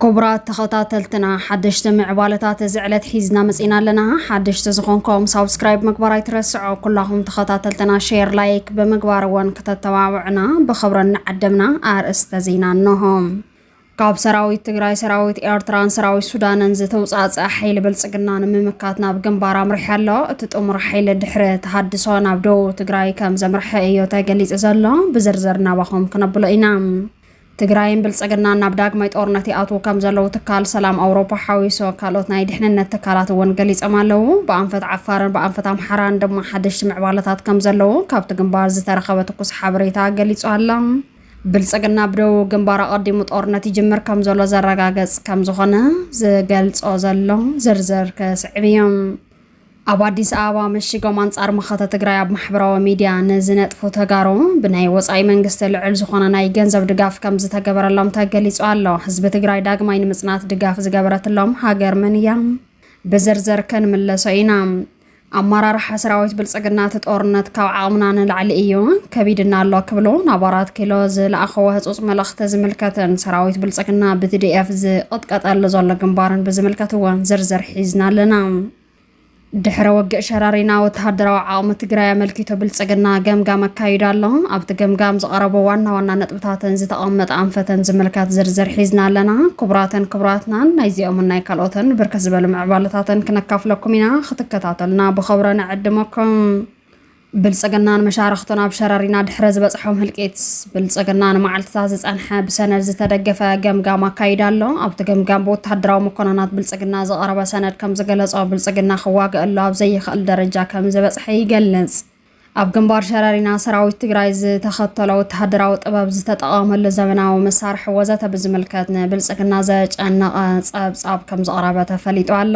ክቡራት ተኸታተልትና ሓደሽቲ ምዕባለታት እዚ ዕለት ሒዝና መፂና ኣለና ሓደሽቲ ዝኾንኩም ሳብስክራይብ ምግባር ኣይትረስዖ ኩላኹም ተኸታተልትና ሼር ላይክ ብምግባር እውን ክተተባብዕና ብኽብሪ እናዓደምና ኣርእስተ ዜና እነሆ ካብ ሰራዊት ትግራይ፣ ሰራዊት ኤርትራን ሰራዊት ሱዳንን ዝተውፃእፀ ሓይሊ ብልፅግና ንምምካት ናብ ግንባር ኣምሪሐ ኣሎ። እቲ ጥሙር ሓይሊ ድሕሪ ተሃድሶ ናብ ደቡብ ትግራይ ከም ዘምርሐ እዮ ተገሊፁ ዘሎ። ብዝርዝር ናባኹም ክነብሎ ኢና። ትግራይን ብልፅግናን ናብ ዳግማይ ጦርነት ይኣትዉ ከም ዘለዉ ትካል ሰላም ኣውሮፓ ሓዊሶ ካልኦት ናይ ድሕንነት ትካላት እውን ገሊፆም ኣለዉ። ብኣንፈት ዓፋርን ብኣንፈት ኣምሓራን ድማ ሓደሽቲ ምዕባለታት ከም ዘለዉ ካብቲ ግንባር ዝተረኸበ ትኩስ ሓበሬታ ገሊፁ ኣሎ። ብልፅግና ብደቡብ ግንባር ኣቐዲሙ ጦርነት ይጅምር ከም ዘሎ ዘረጋገፅ ከም ዝኾነ ዝገልፆ ዘሎ ዝርዝር ክስዕብ እዮም። ኣብ ኣዲስ ኣበባ መሽጎም ኣንጻር መኸተ ትግራይ ኣብ ማሕበራዊ ሚድያ ንዝነጥፉ ተጋሩ ብናይ ወፃኢ መንግስቲ ልዑል ዝኾነ ናይ ገንዘብ ድጋፍ ከም ዝተገበረሎም ተገሊጹ ኣሎ። ህዝቢ ትግራይ ዳግማይ ንምጽናት ድጋፍ ዝገበረትሎም ሃገር መን እያ? ብዝርዝር ክንምለሶ ኢና። ኣመራርሓ ሰራዊት ብልፅግና እቲ ጦርነት ካብ ዓቕምና ንላዕሊ እዩ፣ ከቢድና ኣሎ ክብሉ ናብ ኣራት ኪሎ ዝለኣኸዎ ህፁፅ መልእኽቲ ዝምልከትን ሰራዊት ብልፅግና ብቲዲኤፍ ዝቕጥቀጠሉ ዘሎ ግንባርን ብዝምልከት እውን ዝርዝር ሒዝና ኣለና። ድሕረ ውግእ ሸረሪና ወተሃደራዊ ዓቕሚ ትግራይ ኣመልኪቱ ብልፅግና ገምጋም ኣካይዱ ኣሎ። ኣብቲ ገምጋም ዝቐረቡ ዋና ዋና ነጥቢ እታተን ዝተቐመጠ ኣንፈተን ዝምልከት ዝርዝር ሒዝና ኣለና። ክቡራትን ክቡራትናን ናይዚኦምን ናይ ካልኦትን ብርክት ዝበሉ ምዕባለታተን ክነካፍለኩም ኢና። ክትከታተሉና ብኸብሮ ንዕድመኩም። ብልጽግናን መሻርኽቱን ኣብ ሸረሪና ድሕረ ዝበጽሖም ህልቂት ብልጽግና ንመዓልትታት ዝጸንሐ ብሰነድ ዝተደገፈ ገምጋም ኣካይዳ ኣሎ ኣብቲ ገምጋም ብወተሃደራዊ መኮነናት ብልጽግና ዝቐረበ ሰነድ ከም ዝገለጾ ብልጽግና ክዋግእ ኣሎ ኣብ ዘይኽእል ደረጃ ከም ዝበጽሐ ይገልጽ ኣብ ግንባር ሸረሪና ሰራዊት ትግራይ ዝተኸተሎ ወተሃደራዊ ጥበብ ዝተጠቐመሉ ዘመናዊ መሳርሒ ወዘተ ብዝምልከት ንብልፅግና ዘጨነቐ ፀብፃብ ከም ዘቕረበ ተፈሊጡ ኣሎ።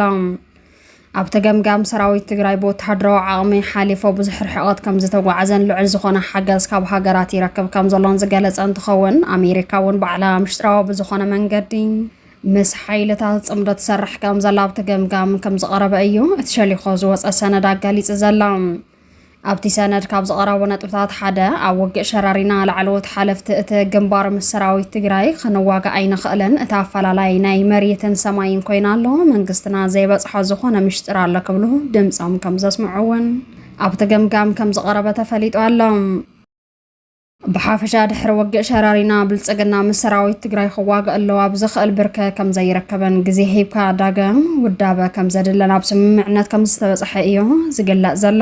ኣብቲ ገምጋም ሰራዊት ትግራይ ብወተሃደራዊ ዓቕሚ ሓሊፎ ብዙሕ ርሕቐት ከም ዝተጓዓዘን ልዑል ዝኾነ ሓገዝ ካብ ሃገራት ይረክብ ከም ዘሎን ዝገለጸ እንትኸውን ኣሜሪካ እውን ባዕላ ምሽጥራዊ ብዝኾነ መንገዲ ምስ ሓይልታት ጽምዶ ትሰርሕ ከም ዘላ ኣብቲ ገምጋም ከም ዝቐረበ እዩ እቲ ሸሊኾ ዝወጸ ሰነድ ኣጋሊጹ ዘላ። ኣብቲ ሰነድ ካብ ዝቐረቡ ነጥብታት ሓደ ኣብ ውግእ ሸራሪና ላዕለዎት ሓለፍቲ እቲ ግንባር ምስ ሰራዊት ትግራይ ክንዋጋእ ኣይንኽእልን፣ እቲ ኣፈላላይ ናይ መሬትን ሰማይን ኮይኑ ኣሎ፣ መንግስትና ዘይበጽሖ ዝኾነ ምሽጢር ኣሎ ክብሉ ድምጾም ከም ዘስምዑ እውን ኣብቲ ገምጋም ከም ዝቐረበ ተፈሊጡ ኣሎ። ብሓፈሻ ድሕሪ ወግእ ሸራሪና ብልፅግና ምስ ሰራዊት ትግራይ ክዋግእ ኣለዎ ኣብ ዘኽእል ብርከ ከምዘይረከበን ግዜ ሂብካ ዳግም ውዳበ ከምዘድለን ኣብ ስምምዕነት ከምዝተበፀሐ እዩ ዝግለፅ ዘሎ።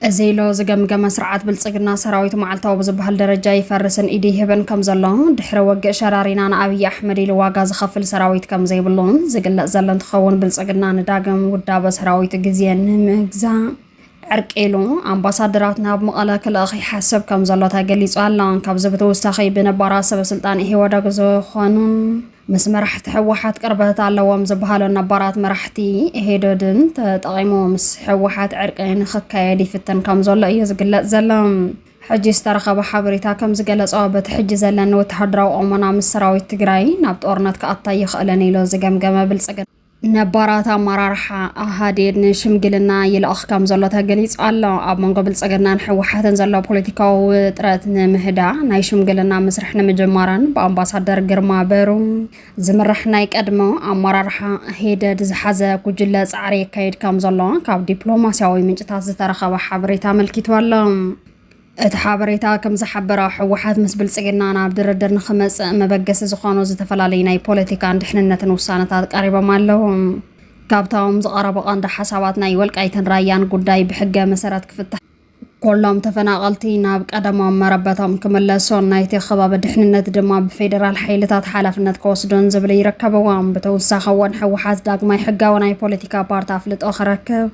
እዚ ኢሎ ዝገምገመ ስርዓት ብልጽግና ሰራዊት መዓልታዊ ብዝበሃል ደረጃ ይፈርስን ኢድ ይህብን ከም ዘሎ ድሕሪ ወግእ ሸራሪና ንኣብዪ ኣሕመድ ኢሉ ዋጋ ዝኸፍል ሰራዊት ከም ዘይብሉን ዝግለጽ ዘሎ እንትኸውን ብልጽግና ንዳግም ውዳበ ሰራዊቱ ግዜ ንምግዛእ ዕርቂ ኢሉ ኣምባሳደራት ናብ መቐለ ክልእኽ ይሓስብ ከም ዘሎ ተገሊጹ ኣሎ። ካብዚ ብተወሳኺ ብነባራት ሰበስልጣን ኢህወደግ ዝኾኑን ምስ መራሕቲ ህወሓት ቅርበት ኣለዎም ዝበሃሉን ነባራት መራሕቲ ኢህወደድን ተጠቒሙ ምስ ህወሓት ዕርቂ ንክካየድ ይፍትን ከም ዘሎ እዩ ዝግለጽ ዘሎ። ሕጂ ዝተረኸበ ሓበሬታ ከም ዝገለጾ በቲ ሕጂ ዘለኒ ወተሃደራዊ ቁመና ምስ ሰራዊት ትግራይ ናብ ጦርነት ክኣታ ኣይኽእልን ኢሉ ዝገምገመ ብልጽግና ነባራት ኣመራርሓ ኣሃዴድ ንሽምግልና ይልኣኽ ከም ዘሎ ተገሊጹ ኣሎ። ኣብ መንጎ ብልጽግናን ህወሓትን ዘሎ ፖለቲካዊ ውጥረት ንምህዳእ ናይ ሽምግልና ምስርሕ ንምጅማረን ብኣምባሳደር ግርማ በሩ ዝምራሕ ናይ ቀድሞ ኣመራርሓ ሂደድ ዝሓዘ ጉጅለ ጻዕሪ የካይድ ከም ዘሎ ካብ ዲፕሎማስያዊ ምንጭታት ዝተረኸበ ሓበሬታ ኣመልኪቱ ኣሎ። እቲ ሓበሬታ ከም ዝሓበሮ፣ ህወሓት ምስ ብልጽግና ናብ ድርድር ንኽመጽእ መበገሲ ዝኾኑ ዝተፈላለዩ ናይ ፖለቲካን ድሕንነትን ውሳነታት ቀሪቦም ኣለዉ። ካብቶም ዝቐረቡ ቀንዲ ሓሳባት ናይ ወልቃይትን ራያን ጉዳይ ብሕገ መሰረት ክፍታሕ፣ ኩሎም ተፈናቐልቲ ናብ ቀደሞም መረበቶም ክምለሱን ናይቲ ከባቢ ድሕንነት ድማ ብፌደራል ሓይልታት ሓላፍነት ክወስዱን ዝብሉ ይርከብዎም። ብተውሳኺ እውን ህወሓት ዳግማይ ሕጋዊ ናይ ፖለቲካ ፓርቲ ኣፍልጦ ክረክብ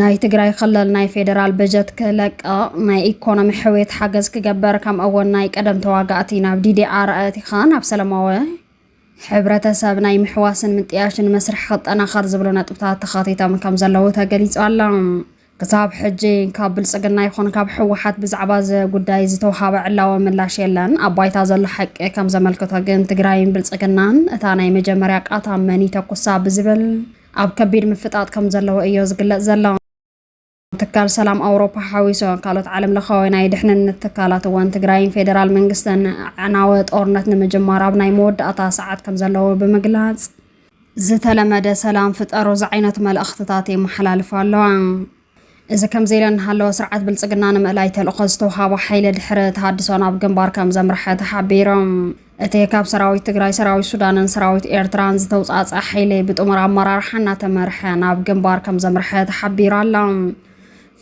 ናይ ትግራይ ክልል ናይ ፌደራል በጀት ክለቅቕ፣ ናይ ኢኮኖሚ ሕውየት ሓገዝ ክገበር ከምኡ'ውን ናይ ቀደም ተዋጋእቲ ናብ ዲዲኣር ኣእቲኻ ናብ ሰለማዊ ሕብረተሰብ ናይ ምሕዋስን ምጥያሽን መስርሕ ክጠናኸር ዝብሉ ነጥብታት ተኻቲቶም ከምዘለዉ ተገሊፁ ኣሎ። ክሳብ ሕጂ ካብ ብልፅግና ይኹን ካብ ህወሓት ብዛዕባ እዚ ጉዳይ ዝተውሃበ ዕላዊ ምላሽ የለን። ኣብ ባይታ ዘሎ ሓቂ ከምዘመልክቶ ግን ትግራይን ብልፅግናን እታ ናይ መጀመርያ ቃታ መን ይተኩሳ ብዝብል ኣብ ከቢድ ምፍጣጥ ከም ዘለዎ እዮ ዝግለጽ ዘሎ። ትካል ሰላም ኣውሮፓ ሓዊሶ ካልኦት ዓለም ለኻዊ ናይ ድሕንነት ትካላት እዋን ትግራይን ፌዴራል መንግስትን ዕናወ ጦርነት ንምጅማር ኣብ ናይ መወዳእታ ሰዓት ከም ዘለዎ ብምግላጽ ዝተለመደ ሰላም ፍጠሩ ዝዓይነቱ መልእኽትታት የመሓላልፋ ኣለዋ። እዚ ከምዚ ኢለን እናሃለወ ስርዓት ብልፅግና ንምእላይ ተልእኾ ዝተውሃቦ ሓይሊ ድሕሪ ተሃድሶ ናብ ግንባር ከም ዘምርሐ ተሓቢሮም። እቲ ካብ ሰራዊት ትግራይ፣ ሰራዊት ሱዳንን ሰራዊት ኤርትራን ዝተውፃእፀ ሓይሊ ብጥሙር ኣመራርሓ እናተመርሐ ናብ ግንባር ከም ዘምርሐ ተሓቢሩ ኣሎ።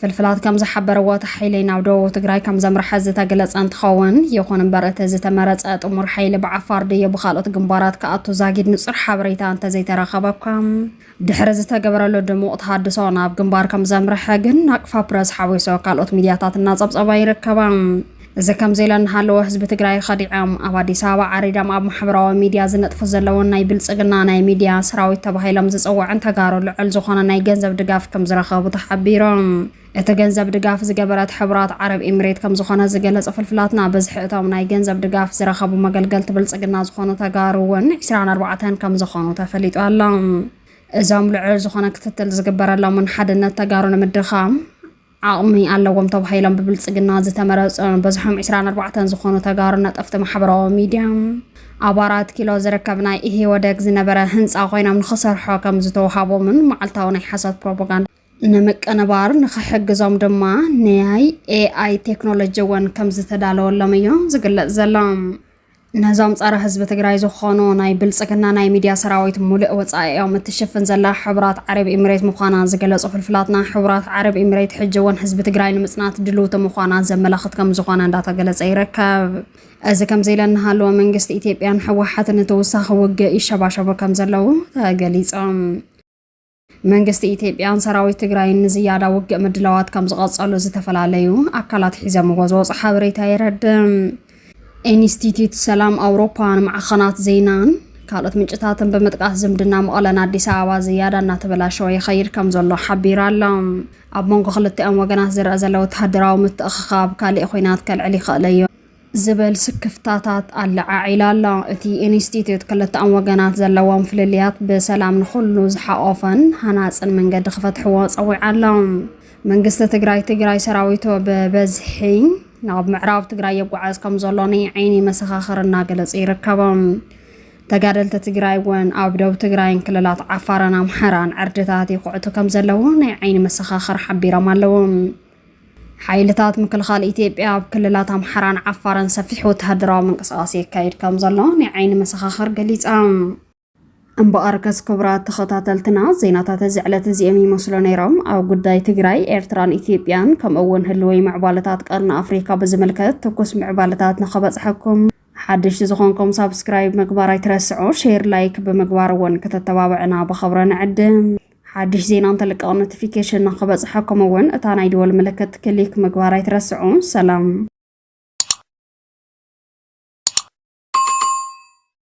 ፍልፍላት ከም ዝሓበርዎ እቲ ሓይሊ ናብ ደቡብ ትግራይ ከም ዘምርሐ ዝተገለፀ እንትኸውን፣ ይኹን እምበር እቲ ዝተመረፀ ጥሙር ሓይሊ ብዓፋር ድዩ ብኻልኦት ግንባራት ክኣቱ ዛጊድ ንፁር ሓበሬታ እንተዘይተረኸበ እኳ ድሕሪ ዝተገበረሉ ድሙቕ ተሃድሶ ናብ ግንባር ከም ዘምርሐ ግን ናቅፋ ፕረስ ሓዊሶ ካልኦት ሚድያታት እናጸብጸባ ይርከባ። እዚ ከምዚ ኢለ እናሃለወ ህዝቢ ትግራይ ኸዲዖም ኣብ ኣዲስ ኣበባ ዓሪዶም ኣብ ማሕበራዊ ሚድያ ዝነጥፉ ዘለውን ናይ ብልጽግና ናይ ሚድያ ሰራዊት ተባሂሎም ዝጽውዕን ተጋሩ ልዑል ዝኾነ ናይ ገንዘብ ድጋፍ ከም ዝረኸቡ ተሓቢሩ። እቲ ገንዘብ ድጋፍ ዝገበረት ሕቡራት ዓረብ ኢምሬት ከምዝኾነ ዝገለፁ ፍልፍላትና፣ ብዝሒ እቶም ናይ ገንዘብ ድጋፍ ዝረኸቡ መገልገልቲ ብልፅግና ዝኾኑ ተጋሩ እውን ዕስራን ኣርባዕተን ከምዝኾኑ ተፈሊጡ ኣሎ። እዞም ልዑል ዝኾነ ክትትል ዝግበረሎምን ሓድነት ተጋሩ ንምድኻም ዓቕሚ ኣለዎም ተባሂሎም ብብልፅግና ዝተመረፁን ብዝሖም ዕስራን ኣርባዕተን ዝኾኑ ተጋሩ ነጠፍቲ ማሕበራዊ ሚድያ ኣብ ኣራት ኪሎ ዝርከብ ናይ ኢህወደግ ዝነበረ ህንፃ ኮይኖም ንክሰርሖ ከምዝተውሃቦምን መዓልታዊ ናይ ሓሶት ፕሮፓጋንዳ ንምቅንባር ንኽሕግዞም ድማ ናይ ኤኣይ ቴክኖሎጂ እውን ከም ዝተዳለወሎም እዩ ዝግለጽ ዘሎ። ነዞም ጸረ ህዝቢ ትግራይ ዝኾኑ ናይ ብልጽግና ናይ ሚድያ ሰራዊት ሙሉእ ወጻኢኦም እትሽፍን ዘላ ሕቡራት ዓረብ ኢሚሬት ምዃና ዝገለጹ ፍልፍላትና ሕቡራት ዓረብ ኢሚሬት ሕጂ እውን ህዝቢ ትግራይ ንምጽናት ድልውቲ ምዃና ዘመላኽት ከም ዝኾነ እንዳተገለጸ ይርከብ። እዚ ከምዚ ኢለ እናሃለወ መንግስቲ ኢትዮጵያን ህወሓትን ንተወሳኺ ውግእ ይሸባሸቡ ከም ዘለዉ ተገሊጾም። መንግስቲ ኢትዮጵያን ሰራዊት ትግራይን ንዝያዳ ውግእ ምድላዋት ከም ዝቐጸሉ ዝተፈላለዩ ኣካላት ሒዘምዎ ዝወጹ ሓበሬታ የረድእ። ኢንስቲትዩት ሰላም ኣውሮፓ ንማዕኸናት ዜናን ካልኦት ምንጭታትን ብምጥቃስ ዝምድና መቐለን ኣዲስ ኣበባ ዝያዳ እናተበላሸወ ይኸይድ ከም ዘሎ ሓቢሩ ኣሎ። ኣብ መንጎ ክልቲኦም ወገናት ዝረኣ ዘሎ ወተሃደራዊ ምትእኽኻብ ካሊእ ኹናት ከልዕል ይኽእል እዩ። ዝበል ስክፍታታት ኣለዓዒላ ኣላ። እቲ ኢንስቲትዩት ክልተኣም ወገናት ዘለዎም ፍልልያት ብሰላም ንኹሉ ዝሓቖፈን ሃናፅን መንገዲ ክፈትሕዎ ፀዊዓ ኣላ። መንግስቲ ትግራይ ትግራይ ሰራዊቶ ብበዝሒ ናብ ምዕራብ ትግራይ የጓዓዝ ከም ዘሎ ናይ ዓይኒ መሰኻኽር እናገለፁ ይርከቦም። ተጋደልቲ ትግራይ እውን ኣብ ደቡብ ትግራይን ክልላት ዓፋርን ኣምሓራን ዕርድታት ይኹዕቱ ከም ዘለዉ ናይ ዓይኒ መሰኻኽር ሓቢሮም ኣለዉ። ሓይልታት ምክልኻል ኢትዮጵያ ኣብ ክልላት ኣምሓራን ዓፋርን ሰፊሕ ወተሃደራዊ ምንቅስቓስ የካይድ ከም ዘሎ ናይ ዓይኒ መሰኻኽር ገሊጻም። እምበኣር ከስ ክቡራት ተኸታተልትና ዜናታት እዚ ዕለት እዚኦም ይመስሉ ነይሮም። ኣብ ጉዳይ ትግራይ፣ ኤርትራን ኢትዮጵያን ከምኡ እውን ህልወይ ምዕባለታት ቀርኒ ኣፍሪካ ብዝምልከት ትኩስ ምዕባለታት ንኸበጽሐኩም ሓደሽቲ ዝኾንኩም ሳብስክራይብ ምግባር ኣይትረስዑ፣ ሼር ላይክ ብምግባር እውን ከተተባብዕና ብኸብረ ንዕድም። ሓድሽ ዜና እንተልቀቕ ኖቲፊኬሽን ንክበፅሐኩም እውን እታ ናይ ደወል ምልክት ክሊክ ምግባር ኣይትረስዑ። ሰላም